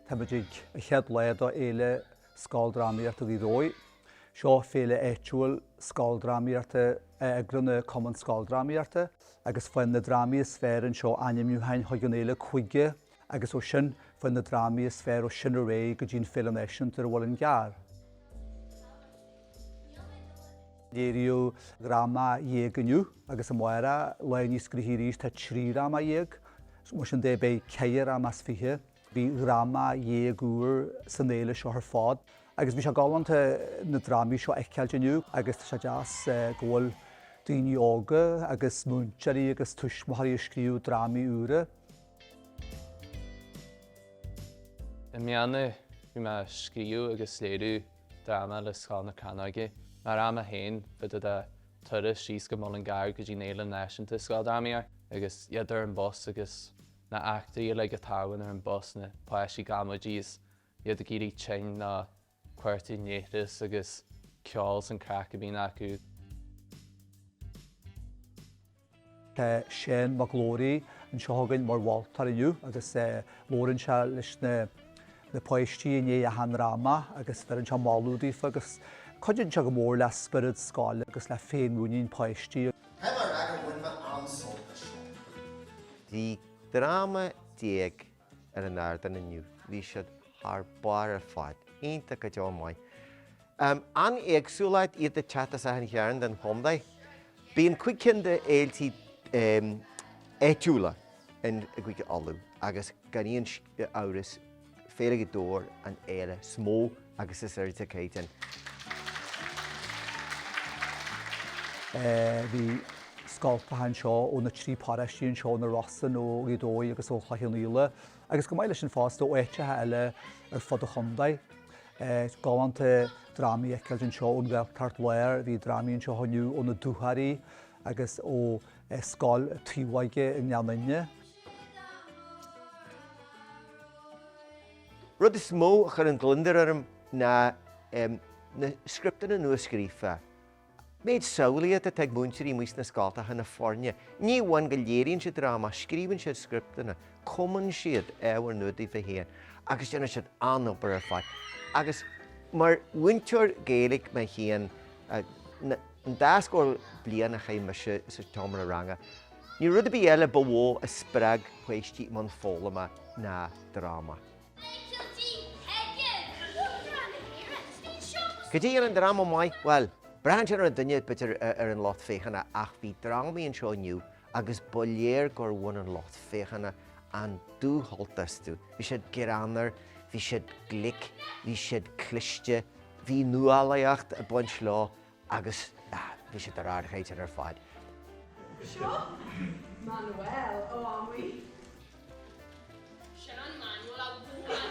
Tá muid ag an chéad lá de Fhéile Scoildrámaíochta Ghaoth Dobhair. Seo féile áitiúil scoildrámaíochta a eagraíonn an Cumann Scoildrámaíochta agus faigheann na drámaí is fearr anseo ainmniúcháin chuig an fhéile Cúige Agus ó sin faigheann na drámaí is fearr ó sin ar aghaidh go dtí an Fhéile Náisiúnta ar an Mhuileann gCearr. Léiríodh dráma dhéag inniu agus amárach, lá níos gnoithí arís, tá trí dhráma dhéag. Mar sin de, beidh ceithre dhráma as fiche, bhí dhá dhráma dhéag úr san fhéile seo ar fad. Agus bhí sé galánta na drámaí seo a fheiceáilt inniu agus tá sé deas go bhfuil daoine óga agus múinteoirí agus tuismitheoirí ag scríobh drámaí úra. I mbliana bhí mé ag scríobh agus léiriú dráma le Scoil na Crannóige. Mar Rang a hAon, fá dtaobh de turas síos go Mullingar go dtí an Fhéile Náisiúnta Scoildrámaíochta agus iad ar an bus agus na heachtraí uilig a tharlann ar an bus, na páistí ag amaidí is iad ag éirí tinn ná Ag cuartú leithreas agus ceol 's an craic a bhíonn acu. Tá Seán Mac Labhraí anseo againn mar mholtóir inniu agus labhrann sé leis na páistí i ndiaidh achan dráma agus bheireann sé moladh daofa agus cuidíonn sé go mór le spiorad scoile agus le féinmhuinín páistí. 13 dráma ar an ardán inniu, bhí siad thar barr ar fad, iontach go deo maith. An-éagsúlacht, iad ag teacht as achan chearn den chontae. Bíonn cúig cinn de fhéiltí áitiúla i gCúige Uladh agus gan aon amhras Féile Ghaoth Dobhair an fhéile is mó Agus is airde caighdeán. Bhí scoltacha anseo ó na trí paróiste anseo, Na Rosann, ó Ghaoth Dobhair agus ó Chloich Cheann Fhaola, agus go maith leis sin fosta ó áiteacha eile ar fud an chontae. Galánta drámaí a fheiceáilt anseo ón Ghaeltacht Láir, bhí drámaí anseo inniu ó na Dúchoraidh agus ó Scoil Taobhóige i nGleann Fhinne. Rud is mó a chuireann gliondar orm ná na scripteanna nua-scríofa. Méid samhlaíocht atá ag múinteoirí amuigh sna scoltacha, na foirne. Ní amháin go léiríonn siad dráma, scríobhann siad scripteanna, cumann siad ábhar nua daofa féin agus déanann siad an-obair ar fad. Agus mar mhúinteoir Gaeilge mé féin, an dá scór bliain a chaith mise sa tseomra ranga, níl rud ar bith eile ba mhó a spreag páistí i mbun foghlama ná. dráma. Eitiltí Peigin! Uachtarán na hÉireann! Is binn seo go Cad é a dhéanann dráma maith? Bhuel, braitheann sé ar an duine, b'fhéidir ar an lucht féachana ach bhí drámaí anseo inniu agus ba léir gur bhain an lucht féachana an dúshult astu. Bhí siad greannmhar, bhí siad glic, bhí siad cliste, bhí nuálaíocht ag baint leo Agus bhí siad ar ardchaighdeán ar fad. Seo Manuel ó Amuigh. Sin an Manuel a bhuail.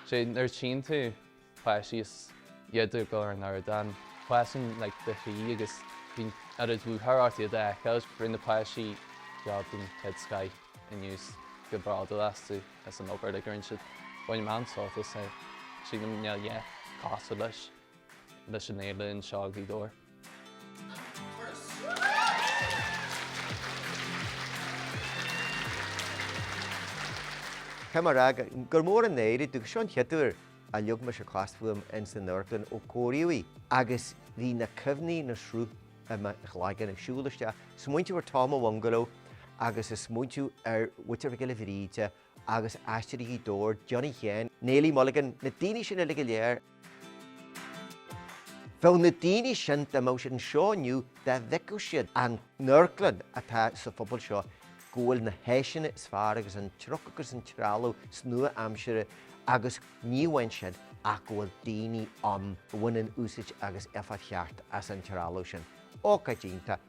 Sé nuair a tchíonn tú páistí 's iad ag dul ar an ardán. Páistí Naí le cois a trí agus bíonn oiread lúcháir ort iad a fheiceáil. Rinne na páistí job den chéad scoith inniu 's iontach bródúil astu as an obair a rinne siad. Bainim an-sult as é. Sílim níl a dhath cosúil leis an éileamh anseo i nGaoth Dobhair. Caithfidh mé a rá gur mór an náire domh gur seo an chéad uair a leag mise cos fúm ins an amharclann ó cóiríodh í agus bhí na cuimhní ina sruth i mo chloigeann ag siúl isteach, smaointeamh ar Tom a' Bhungaló agus a smaointeamh ar Mhuintir Mhic Giolla Bhríde, agus Aisteoirí Ghaoth Dobhair, Johnny Sheáin, Néilí Mulligan, na daoine sin uilig go léir. Bheadh na daoine sin, dá mbeadh siad anseo inniu, dá bhfeicfeadh siad an amharclann atá sa phobal seo, go bhfuil na háiseanna is fearr agus an truc agus an trealamh is nua-aimseartha agus ní amháin sin ach go bhfuil daoine ann a bhaineann úsaid agus éifeacht cheart as an trealamh sin. Ócáid iontach.